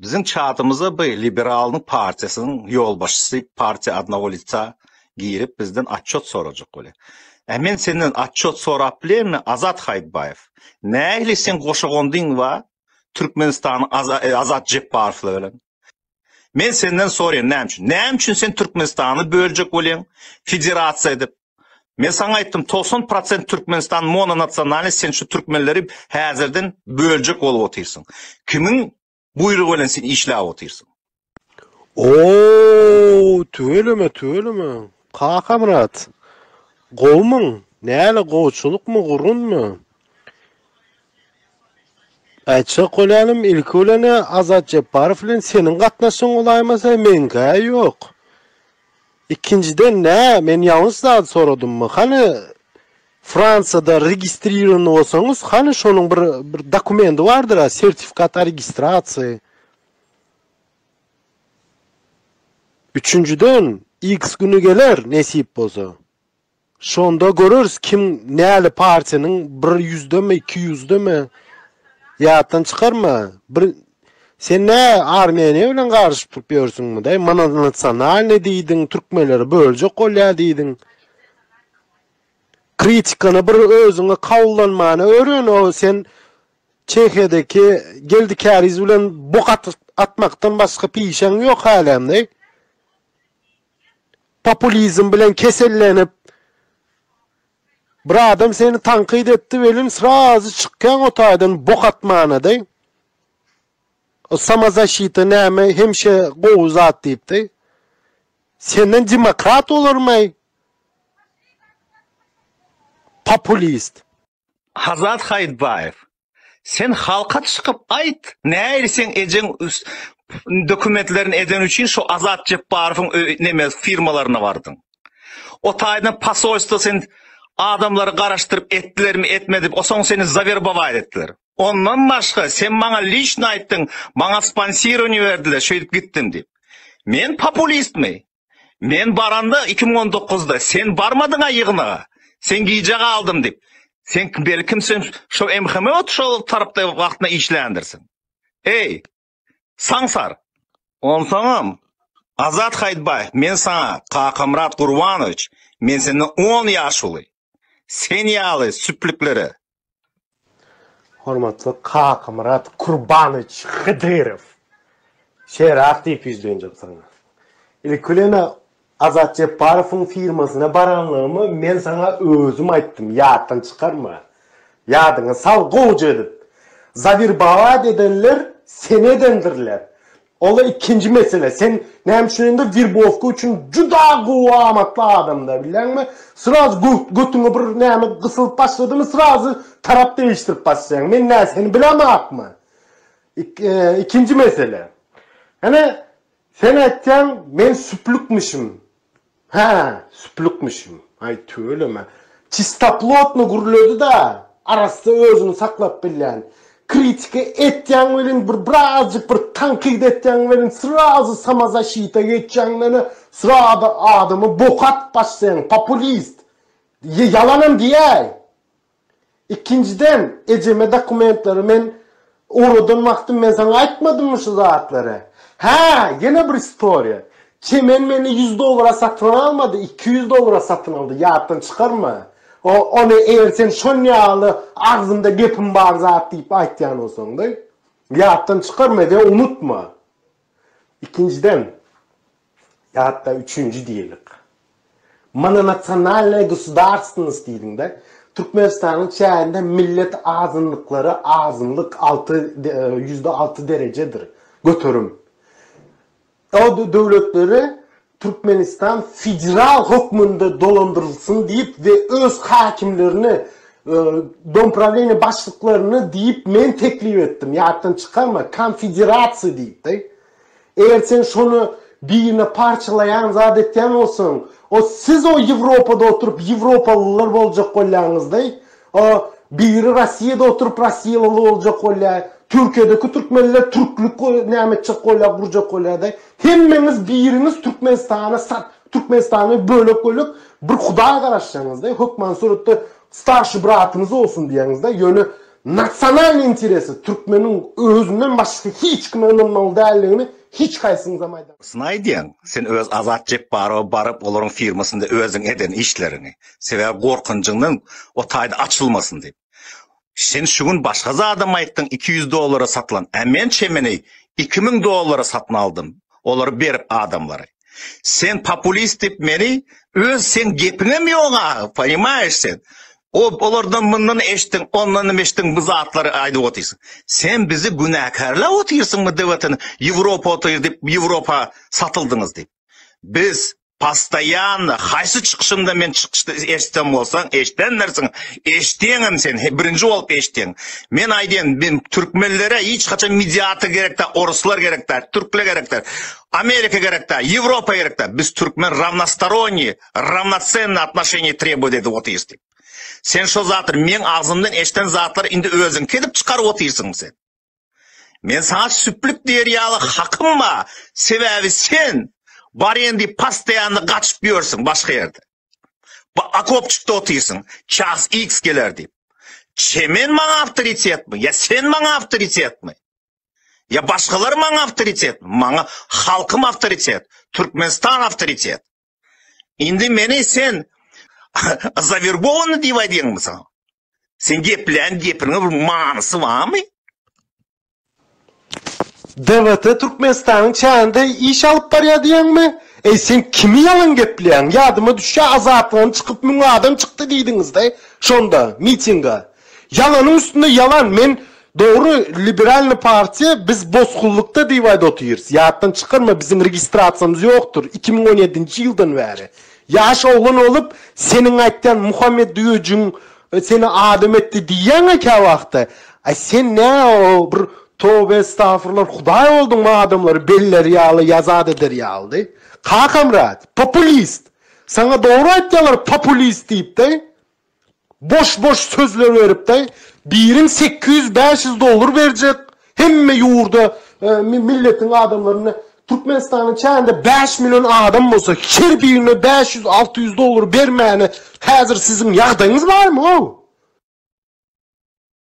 Biziň çatymyza by Liberalnyň partiýasynyň ýolbaşçysy partiýa adna ulica girip bizden atçot sorajak bolýa. Ä men senden atçot sorap bilenmi Azat Haýytbaýew? Nähili seň goşagondyň wa Türkmenistanyň Azat Jepbarow bilen? Men senden soraýan näme üçin? Näme üçin sen Türkmenistany böljek bolýaň federasiýa edip? Men saňa aýtdym togsan prosent Türkmenistan mononasionalny sen şu türkmenleri häzirden böljek bolup otyrsyň. Kimiň buýrugy bilen sen işläp otyrsyň. Ooo tüweleme tüweleme Kakamyrat gowumyň näle gowçylykmy gurunmy Aýtjak bolýanym ilki bilenä Azat Jepbarow bilen seniň gatnaşygyň bolaýmasa meňkä ýok Ikinjiden nä men ýalňyş zat soradymmy hany Fransiýada registrirowany bolsaňyz hany şonuň bir bir dokumendi bardyra sertifikat o registrasiýa. Üçünjiden X güni geler nesip bolsa. Şonda göreris kim näli partiýanyň bir ýüzdeme iki ýüzdeme ýatdan çykarma bir sen nä armiýaýe bilen garyşyp turup ýörsüňmi daýy mana nasionalnyý diýdiň türkmenleri böljek bolýa diýdiň kritikany bir özüňe kabullanmany öwren o sen çehiýadaki geldi käriz bilen bok atmakdan başga pişeň ýok hälem daýy. populizm bilen kesellenip bir adam seni tankyt etdi welin srazy çykýaň o taýdan bok atmana deý. O samozaşita näme hemişe gowy zat diýip deý. Senden demokrat bolarmaý. Populist. Hazat Haýytbaýew, sen halka çykyp aýt, näir seň ejeň dokumentlerini eden üçin şu Azat Jepbarowyň neme firmalaryna bardyň. O taýdan posolstwo sen adamlary garaşdyryp etdilermi etmedip osoň seni zawerbowaýt etdiler. Ondan başga sen maňa liçno aýtdyň, maňa sponsirowanie berdiler şeýdip gitdim diýip. Men populistmi? Men baranda iki müň on dokuzda sen barmadyňa ýygnaga. Sen gijä galdym diýip. Sen belkim sen şo MHM şo tarapda wagtynda işländirsiň. Eý, saňsar! Onsoňam, Azat Haýytbaýew, men saňa Kakamyrat Gurbanowiç, men senden on ýaş uly. Sen ýaly süplüklere. Hormatly Kakamyrat Kurbanowiç Hydyrow! Şerak diýip ýüzlenjek saňa. Ilki bilen Azat Jepbarowyň firmasyna baranlygymy men saňa özüm aýtdym, ýatdan çykarma. Ýadyňa sal gowja edip. Zawirbawat edenler seni edendirler. Onda ikinji mesele, sen näme üçin indi wirbowka üçin juda gowy amatly adamda, bilýäňmi? Sraz götüňe bir näme gysylyp başladymy, srazy tarap degişdirip başlaýaň. Men nä seni bilemakmy? Ikinji mesele. Ene, sen aýtýaň, men süplükmişim. Hä, süplükmişim. Aý, tüweleme. Çistoplotno gürledi-de, arassa özüni saklap bilýän. Kritika etýäň welin, bir birazjyk bir tankyt etýäň welin, srazu samozaşita geçýäň-de, srazu adamy boka atyp başlaýaň, populist. Ýalanam diýäý! Ikinjiden, ejeme dokumentlary men ugradan wagtym men saňa aýtmadymmy şu zatlary? Hä, ýene bir istoriýa. Çemen meni ýüz dollara satyn almady, iki ýüz dollara satyn aldy, ýatdan çykarma. O, ony eger sen şonýaly agzyňda gepim bar zat diýip aýtýan bolsaňda, ýatdan çykarma we unutma. Ikinjiden, Ýatda üçünji diýelik. Mononasionalnyýa gosudarstwnost diýdiňde, Türkmenistanyň çäginde millet azynlyklary azynlyk alty, ýüzde alty derejedir, göterim. O döwletleri Türkmenistan federal hökmünde dolandyrylsyn diýip we öz häkimlerini, domprawleniýa başlyklaryny diýip men teklip etdim, ýatdan çykarma, konfederasiýa diýip-de. Eger sen şony birine parçalaýan zat etýän bolsaň, o siz o Ýewropada oturyp ýewropalylar boljak bolýaňyzdy, o biri Rossiýada oturyp rossiýaly boljak bolýar, Türkiýedeki türkmenler türklik näme etjek bolýar, gurjak bolýardy. Hemmeňiz biriňiz Türkmenistany sat, Türkmenistany bölek-bölek bir hudaý garaşýaňyzdy, hökman suratda starşy bratyňyz bolsun diýýäňizdi, ýöne Nasionalnyý interesi türkmeniň özünden başga hiç kime ynanmaly däldigini hiç haýsyňyzam aýda. Syn aýdýaň sen öz Azat Jepbarowa baryp olaryň firmasynda özüň eden işleriňi sebäbi gorkunjyňdan o taýda açylmasyn diýip. Sen şu gün başga zadam aýtdyň iki ýüz dollara satylan, a men çemeni iki müň dollara satyn aldym olary berip adamlary. Sen populist dip meni öz sen gepiňem ýok a, poýmaýyş sen. O olardan mundan eşdiň, ondan hem eşdiň bu zatlary aýdyp otyrsyň. Sen bizi günäkärle otyrsyň bu dewletiň Ýewropa otyr dip Ýewropa satyldyňyz dip. Biz postaýanna haýsy çykyşynda men çykyşda eşitsem bolsaň eşdendirsiň, eşdeňem sen birinji bolup eşdeň. Men aýdýan men türkmenlere hiç haçan midiator gerek däl, oruslar gerek däl, türkler gerek däl. Amerika gerekda, Ýewropa gerekda, biz türkmen rawnostoronniý, rawnocenniý atnoşeniýe trebowat edip otyrys diýip. Sen şo zatlar, meň agzymdan eşden zatlar indi özüňki edip çykaryp otyrsyň sen. Men saňa süplük diýer ýaly hakym ba, sebäbi sen barýan diýip postoýanny gaçyp ýörsiň başga ýerde. Bu okopçykda otyrsyň, ças iks geler diýip. Çemen maňa awtoritetmi, ýa sen maňa awtoritetmi? Ýa başgalar maňa awtoritet, maňa halkym awtoritet, Türkmenistan awtoritet. Indi meni sen zavergowany diýip aýdýaňmy sen? Sen geplän gepiniň bir manysy barmy? DBT Türkmenistanyň çäginde iş alyp barýar diýýäňmi? Eý, sen kimi ýalan gepleýäň? Ýadyma düşýär, Azatlygyň çykyp müň adam çykdy diýdiňiz-de, şonda, mitinga. Ýalanyň üstünde ýalan men dogry liberalny partiýa biz bosgunlykda diýip aýda otyrys ýatdan çykarma biziň registrasiýamyz ýokdyr iki müň on ýedinji ýyldan bäri ýaş oglan bolup seniň aýtýan muhammet düýejigiň seni adam etdi diýýäňä käwagtda aý sen nä o bir tobe estafurlar hudaý bolduňmy adamlary beller ýaly ýazat eder ýalydy kakamrat populist saňa dogry aýtýalar populist diýipdi. Boş boş sözler beripdi. Biriň sekiz ýüz bäş ýüz dollar berjek hemme ýurda milletiň adamlaryna Türkmenistanyň çäginde bäş million adam bolsa her birine bäş ýüz alty ýüz dollar bermäne häzir siziň ýagdaýyňyz barmy ow.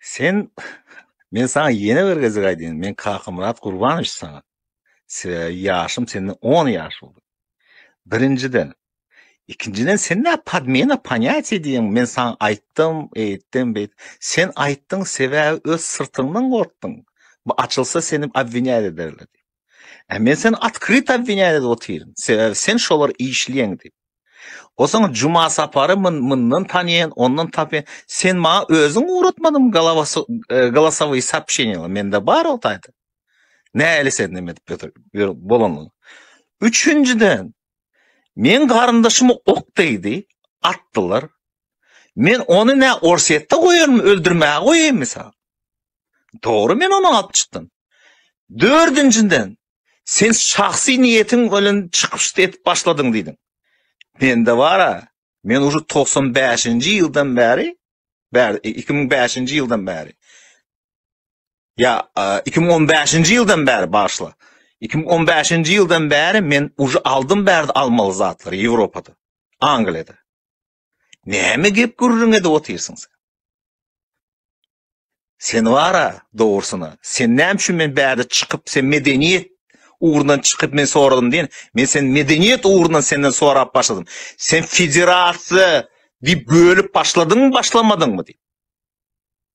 Sen men sana ýene bir gezek aýdýan, men Kakamyrat Gurbanowiç sana. Sebäbi ýaşym senden 10 ýaş uly. Birinjiden, ikinjiden sen ne podmena ponyatiýa diýen, men sana aýtdym, eýtdim, beýt. Sen aýtdyň sebäbi öz syrtyňdan gorkdyň. Bu açylsa seni obwinýat ederler diýip. Ä men sen atkryt obwinýan edip otyryn. Sebäbi sen şolar işleýän diýip. Osaň Juma Sapary myn myndan tanýan, ondan tapýan. Sen maňa özüň ugratmadyň galawasy e, galasowy sapşenýa. Mende bar o taýda. Näli sen näme edip ýötür? Bolanyň. Üçünjiden men garyndaşymy ok degdi, atdylar. Men ony nä Orsetde goýarmy, öldürmäge goýaýmy sen? Dogry men ony alyp çykdym. Dördünjiden, sen şahsy niýetiň bilen çykyş edip başladyň diýdiň. Mende bar-a, men ujy togsan bäşinji ýyldan bäri, bäri, e, iki müň bäşinji ýyldan bäri, ýa, e, iki müň on bäşinji ýyldan bäri, bagyşla, iki müň on bäşinji ýyldan bäri men ujy aldym bärde almaly zatlary Ýewropada, Angliýada. Näme gep gürrüň edip otyrsyň sen? Sen wara, dogrusyna, sen näme üçin men bärde çykyp, sen medeniýet ugrundan çykyp men soradym diýen, men sen medeniýet ugrundan senden sorap başladym. Sen federasiýa diýip bölüp başladyňmy, başlamadyňmy diýip.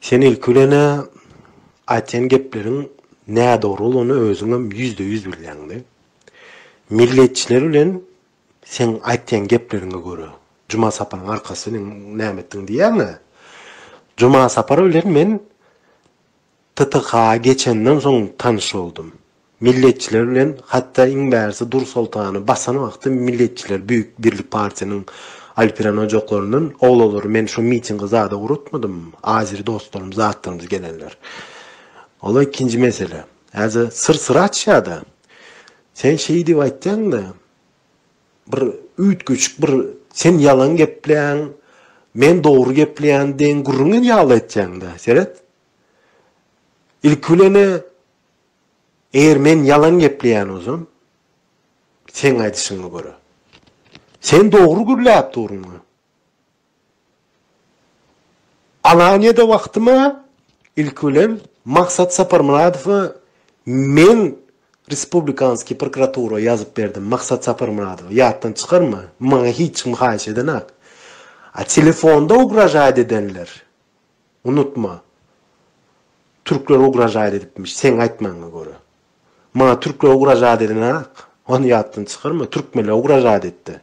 Sen ilki bilen-ä aýtýan gepleriň nädogry bolany özüňem ýüzde ýüz bilýäňdi. Milletçiler bilen seň aýtýan gepleriňe görä Juma Saparyň arkasy seniň näme etdiň diýýäň-ä. Juma Sapar bilen men TTH-a geçenden soň tanyş boldum. Milletçiler bilen hatda iň bärisi Dursoltany basan wagty milletçiler Büyük Birlik Partiýanyň Alperen ojaklaryndan oglalary men şo mitingi zada uratmadym, azeri dostlarym zatlarymyz gelenler. Ol-a ikinji mesele. Häzir syr syry açýa-da. Sen şeý diýip aýtýaň-da, bir üýtgeşik bir sen ýalan gepleýäň, men dogry gepleýän deýin gürrüň ýaly etýäň-da, seret. Ilki bilen-ä, eger men ýalan gepleýän bolsam, seň aýdyşyňa görä, sen dogry gürläp durmuň. Alaniýada wagtyma, ilki bilen, Maksat Saparmyradowa men Respublikanskiý prokuratura ýazyp berdim, Maksat Saparmyradowa, ýatdan çykarma, maňa hiç kim haýyş edenak. A telefonda ugražaýt edenler, Unutma. Türkler ugražaýt edipmiş, seň aýtmaňa görä. Maňa türkler ugražaýt edenok. Ony ýatdan çykarma. Türkmenler ugražaýt etdi.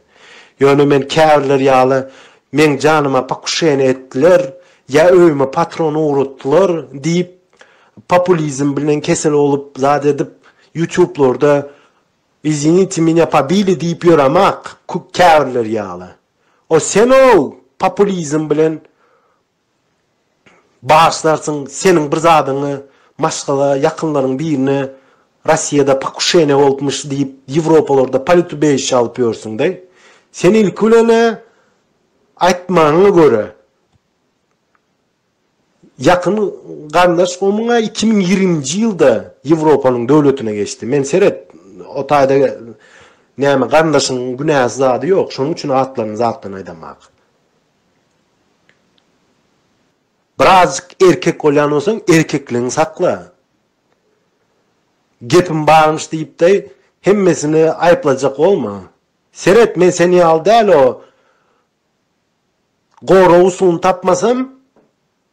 Ýöne men käbirleri ýaly meň janyma pakuşeniýe etdiler, ýa öýüme patron ugratdylar diýip populizm bilen kesel bolup zat edip ýutublarda Izvinite menya pobili diýip ýöremak, käbirleri ýaly. O sen-ow populizm bilen Bagyşlarsyň, seniň bir zadyňy maşgala ýakynlaryň birine Rossiýada pokuşeniýa bolupmyş diýip Ýewropalarda politubejişe alyp ýörsüň-de. Sen ilki bilen-ä aýtmanyňa görä, ýakyn garyndaş gowmyň-a iki müň ýigriminji ýylda Ýewropanyň döwletine geçdi. Men seret, o taýda näme garyndaşyň günäsi zady ýok, şonuň üçin atlaryny zatdan aýdamak. Birazjyk erkek bolýan bolsaň, erkekligiňi sakla. Gepim barmyş diýip deý, hemmesini aýyplajak bolma. Seret, men seni ýaly däl-o. Goragy suwuny tapmasam,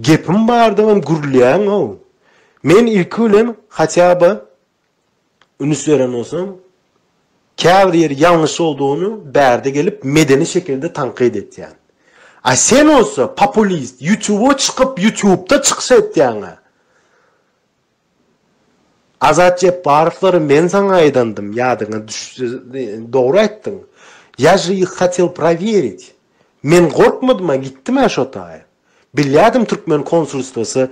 Gepim bardygam gürleýäňow. Men ilki bilen hatýaba ünüs beren bolsam, käbir ýeri ýalňyş boldugyny bärde gelip medeni şekilde tankyt etýän. A sen bolsa populist, ýutuba çykyp ýutubda çykyş etýäňä. Azat Jepbarowlary men saňa aýdandym, ýadyňa düşse, dogry aýtdyň. Ýa je ih hatel prowerit. Men gorkmadym-a, gitdim-ä şo taýy. Bilýärdim türkmen konsulstwasy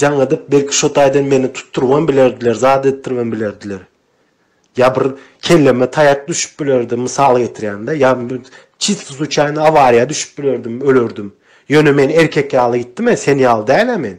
jaň edip, belki şo taýdan meni tutdurybam bilerdiler, zat etdiribem bilerdiler. Ýa bir kelleme taýak düşüp bilerdi, mysal getirýän-dä, ýa çisto suçaýno awariýa düşüp bilerdim, ölerdim. Ýöne men erkek ýaly gitdim-ä, sen ýaly däl-ä men.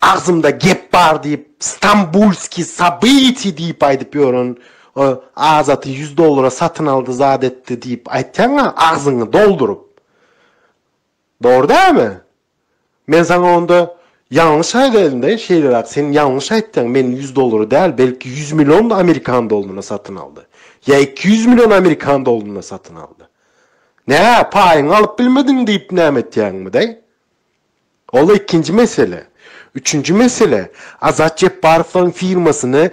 Agzymda gep bar diýip Stambulskiý sobytiý diýip aýdyp ýören o Azaty ýüz dollara satyn aldy zat etdi diýip aýtýaňa agzyňy dolduryp. Dogry dälmi? Men saňa onda ýalňyş aýdaýynda şeýleräk sen ýalňyş aýtýaň men ýüz dollara däl belki ýüz million amerikan doluna satyn aldy. Ýa iki ýüz million amerikan doluna satyn aldy. Nä paýyňy alyp bilmediň diýip näme etýäňmi daý? Ol ikinji mesele. Üçünji mesele, Azat Jepbarowyň firmasyny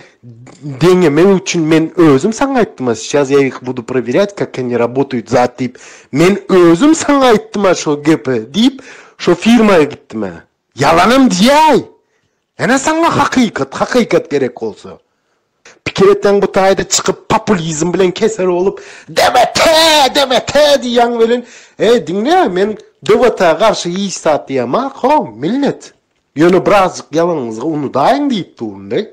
deňemek üçin men özüm saňa aýtdym-a, sýas ýa ýik budu prowirýat kak oni rabotuýt zat diýip, men özüm saňa aýtdym-a şo gepi diýip, şo firma gitdim-ä. Ýalanam diýäý! Ene saňa hakykat, hakykat gerek bolsa. Pikir etseň bu taýda çykyp populizm bilen keser bolup DBT, DBT diýýäň welin, eý diňle men DBT-a garşy hiç zat diýemok ho, millet. Ýöne birazjyk ýalanyňyzy unudaýyň diýip durun-deý.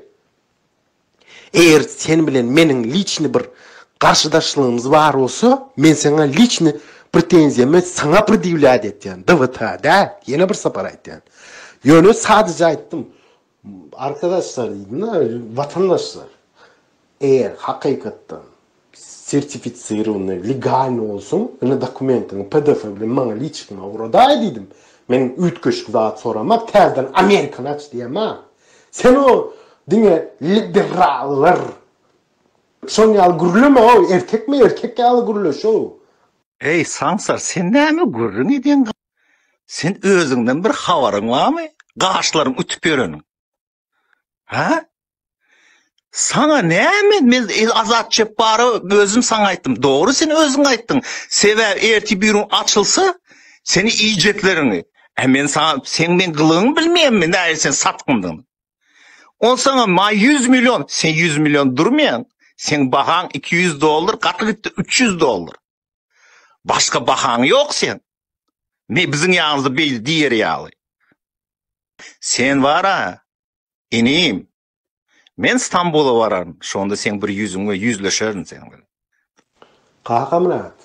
Eger sen bilen meniň liçny bir garşydaşlygymyz bar bolsa, men saňa liçny pretenziýamy saňa predýewlýat etýän, DVT-a däl, ýene bir sapar aýtýan. Ýöne sadyja aýtdym. Arkadaşlar diýdim-de, watandaşlar. Eger hakykatdan sertificirownyý, legalnyý bolsun, indi dokumentiňi pdf bilen maňa liçikma ugradaý diýdim. Men üýtgeşik zat soramak, täzeden amerikany aç diýemok. Sen o diňe liberallar şon ýaly gürleme-ow, erkekmi erkek ýaly gürleş-ow. Eý saňsar sen näme gürrüň edýäň, sen özüňden bir habaryň barmy, gaşlaryň ütüp ýöreniň. Ha? Sana näme men Azat Çepbara özüm sana aýtdym. Dogry sen özüň aýtdyň. Sebäp erti birin açylsa seni iýjeklerini. E men sana sen men gylygyňy bilmeýänmi? Näme sen satgyndyň? On sana ma 100 million, sen 100 million durmaýaň. Sen bahaň 200 dollar, gaty gitdi 300 dollar. Başga bahaň ýok seň. Me biziň ýanymyzda beýle diýer ýaly. Sen bar-a, inim, men Stambula bararyn, şonda seň bir ýüzüňe ýüzleşerin sen bilen. Kakamyrat,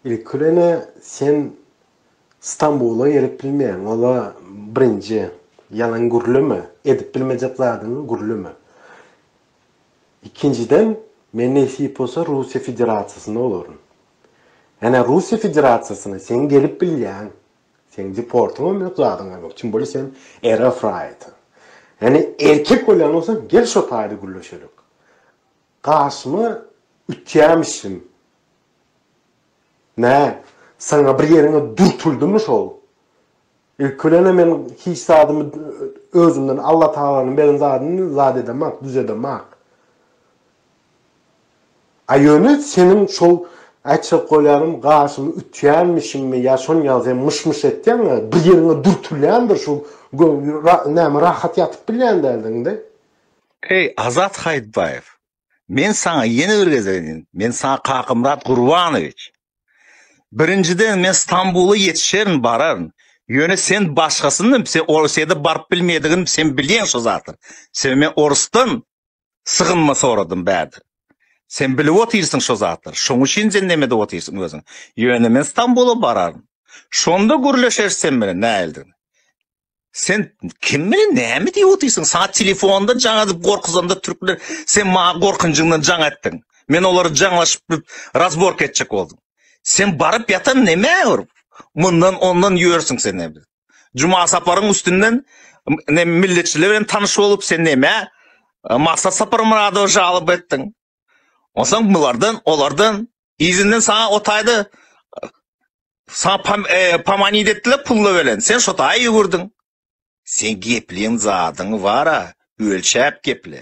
ilki bilen-ä sen Stambula gelip bilmeýäň, ol-a birinji. Ýalan gürleme, edip bilmejek zadyňy gürleme. Ikinjiden, men nesip bolsa Russiýa Federasiýasynda bolaryn. Ene Russiýa Federasiýasyna seň gelip bilýäň. Seň deportyňam ýok, zadyňam ýok. Kim bolýa sen RF raýaty. Ene erkek bolýan bolsaň gel şo taýda gürleşelik. Garşyma ütýämişin. Nä, saňa bir ýeriňe dürtüldimu şol? Ilki bilen-ä men hiç zadymy özümden, Allatagalanyň beren zadyny zat edemak, düzedemak. A ýöne seniň şol, aýtjak bolýanym, gaşymy ütýänmişiňmi ýa şony ýaly sen myş-myş etýäň-ä, bir ýeriňe dürtülýändir şu näme rahat ýatyp bilýän däldiň-de. Eý, Azat Haýytbaýew, Men saňa ýene bir gezek edin. Men saňa Kakamyrat Gurbanowiç. Birinjiden men Stambula ýetişerin, bararyn. Ýöne sen başgasyny, sen Orsýada baryp bilmeýädigini sen bilýäň şu zady. Sen men orusdan sygynma soradym bärde. Sen bilip otyrsyň şu zatlary. Şoň üçin sen näme edip otyrsyň özüň. Ýöne men Stambula bararyn. Şonda gürleşeris sen bilen nähilidigini. Sen kim bilen näme diýip otyrsyň? Saňa telefonda jaň edip gorkuzanda türkler sen maňa gorkunjyňdan jaň etdiň. Men olary jaňlaşyp bip razbork etjek boldum. Sen baryp ýatan näme urup? Mundan ondan ýörsiň sen näme? Juma saparyň üstünden ne milletçiler bilen tanyş bolup sen näme? Maksat Saparmyradowa jalyp etdiň. Onsoň bulardan, olardan Izinden saňa otaýda saňa pam, e, pamanid etdiler pulla belen. Sen şo taýa ýüwürdiň. Sen gepliň zadyň bara, ölçäp geple.